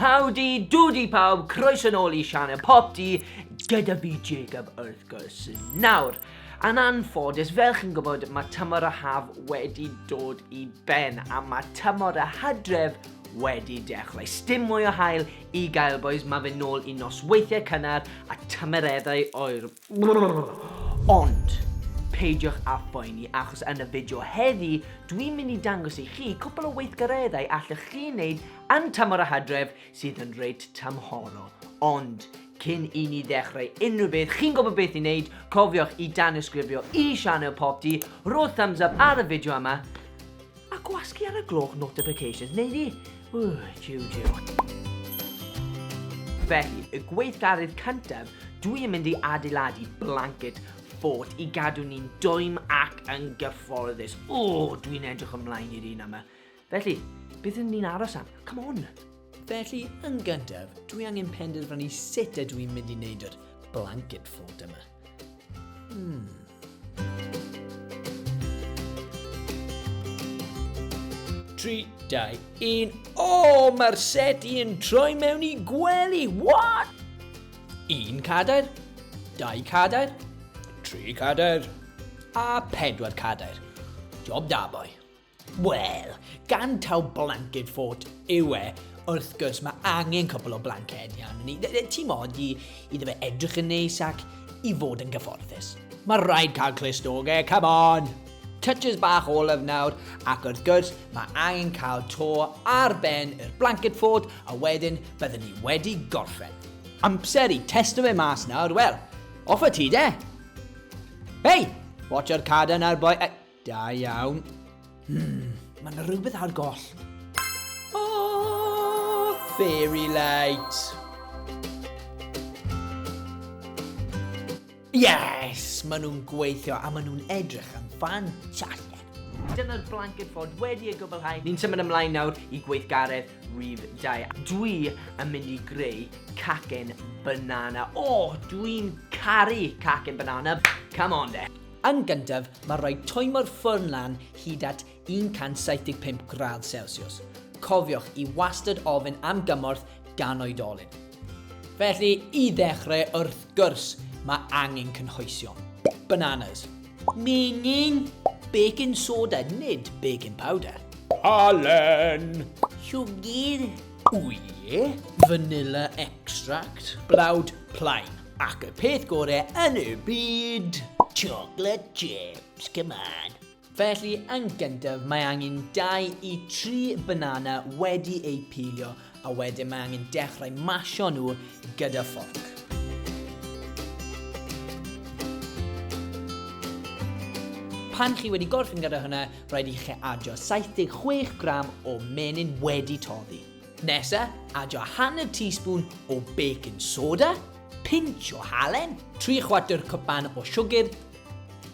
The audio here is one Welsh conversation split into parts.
Howdy doody pawb, croeso yn ôl i Sianel Pop Di gyda fi Jacob wrth gwrs. Nawr, yn anffodus, fel chi'n gwybod, mae tymor y haf wedi dod i ben a mae tymor y hydref wedi dechrau. Stim mwy o hael i gael boys, mae fe nôl i nosweithiau cynnar a tymereddau oer. Ond, peidiwch â phoeni achos yn y fideo heddi dwi'n mynd i dangos i chi cwpl o weithgareddau allwch chi wneud yn tymor y hydref sydd yn reit tymhorol. Ond, cyn i ni ddechrau unrhyw beth, chi'n gwybod beth i wneud, cofiwch i danysgrifio i sianel Popty, rho thumbs up ar y fideo yma, A gwasgu ar y gloch notifications, neu ni? Ww, jiw jiw. Felly, y gweithgarydd cyntaf, dwi yn mynd i adeiladu blanket fort i gadw ni'n dwym ac yn gyfforddus. O, dwi'n edrych ymlaen i'r un yma. Felly, beth ydyn ni'n aros am? Come on! Felly, yn gyntaf, dwi angen penderfynu sut ydw i'n mynd i wneud yr blanket fort yma. Hmm. Tri, dau, un. O, oh, mae'r seti yn troi mewn i gwely. What? Un cadair, dau cadair, tri cadair, a pedwar cadair. Job da, boi. Wel, gan taw blanced ffot yw e, wrth gwrs mae angen cwpl o blanced iawn ni. Ti mod i, iddo fe edrych yn neis ac i fod yn gyfforddus. Mae rhaid cael clust o ge, come on! Touches bach olaf nawr, ac wrth gwrs mae angen cael to ar ben yr blanced ffot a wedyn byddwn ni wedi gorffen. Amser i testo fe mas nawr, wel, off y ti de! Hei! Watch o'r cadan a'r boi... Da iawn. Hmm, mae yna rhywbeth ar goll. Oh, fairy light. Yes! Maen nhw'n gweithio a maen nhw'n edrych yn ffantastig. Dyna'r blanket fod wedi ei gwblhau. Ni'n symud ymlaen nawr i gweithgaredd rhif 2. Dwi yn mynd i greu cacen banana. O, oh, dwi'n caru cacen banana. Come on de. Yn gyntaf, mae rhaid toimo'r ffwrn lan hyd at 175 gradd Celsiws. Cofiwch i wastad ofyn am gymorth gan oedolyn. Felly, i ddechrau, wrth gwrs, mae angen cynhwysion. Bananas. Menyn. Baking soda, nid baking powder. Halen. Siwgr. Wy. Vanilla extract. Blawd plaen. Ac y peth gore yn y byd! Chocolate chips, come on! Felly, yn gyntaf, mae angen 2 i 3 banana wedi eu pilio a wedyn mae angen dechrau masio nhw gyda fforc. Pan chi wedi gorffen gyda hwnna, rhaid i chi adio 76 gram o menyn wedi toddi. Nesa, adio hanner teaspoon o baking soda, pinch o halen, 3 chwarter cwpan o siwgr,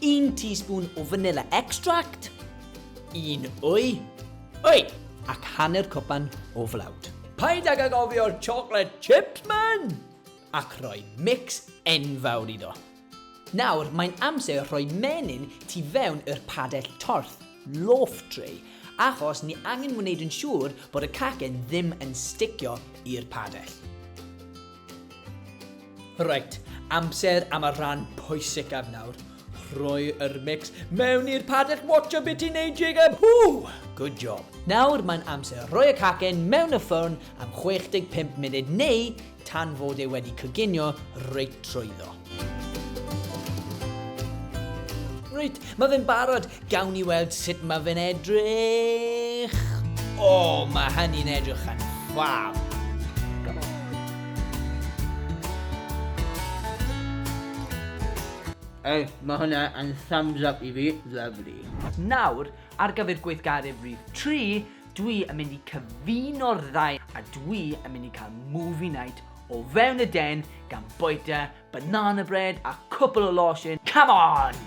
1 teaspoon o vanilla extract, 1 wy, wy, ac hanner cwpan o flawd. Paid ag agofio'r chocolate chips man! Ac rhoi mix enfawr iddo. Nawr mae'n amser rhoi menyn tu fewn yr padell torth, loaf tray, achos ni angen wneud yn siŵr bod y cacen ddim yn sticio i'r padell. Reit, amser am y rhan pwysicaf nawr, rhoi yr mix mewn i'r padell watcha be ti'n neud Jacob, huu! Good job. Nawr mae'n amser rhoi y cacen mewn y ffwrn am 65 munud neu tan fod e wedi coginio reit trwyddo. Reit, mae fe'n barod, gawn ni weld sut mae fe'n edrych. O, oh, mae hynny'n edrych yn ffab. Ei, mae hwnna yn thumbs up i fi, lovely. Nawr, ar gyfer gweithgaredd rhif 3, Dwi yn mynd i cyfuno'r ddau a dwi yn mynd i cael movie night o fewn y den gan boita banana bread a cwpl o losin. Come on!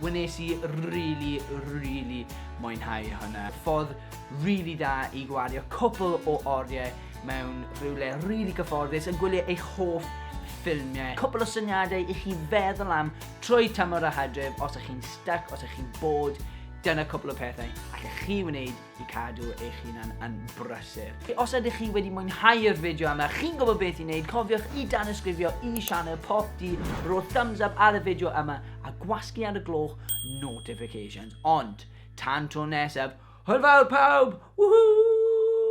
Wnes i really, really mwynhau hwnna. Ffordd really da i gwario cwpl o oriau mewn rhywle really gyfforddus yn gwylio eich hoff ffilmiau. Cwpl o syniadau i chi feddwl am trwy tymor a hadref os ych chi'n stuck, os ych chi'n bod, dyna cwpl o pethau allech chi wneud i cadw eich hunan yn brysur. Os ydych chi wedi mwynhau'r fideo yma, chi'n gwybod beth i wneud, cofiwch i danysgrifio i sianel Pop D, rho thumbs up ar y fideo yma a gwasgu ar y gloch notifications. Ond, tan tro nesaf, hwyl fawr pawb! Woohoo!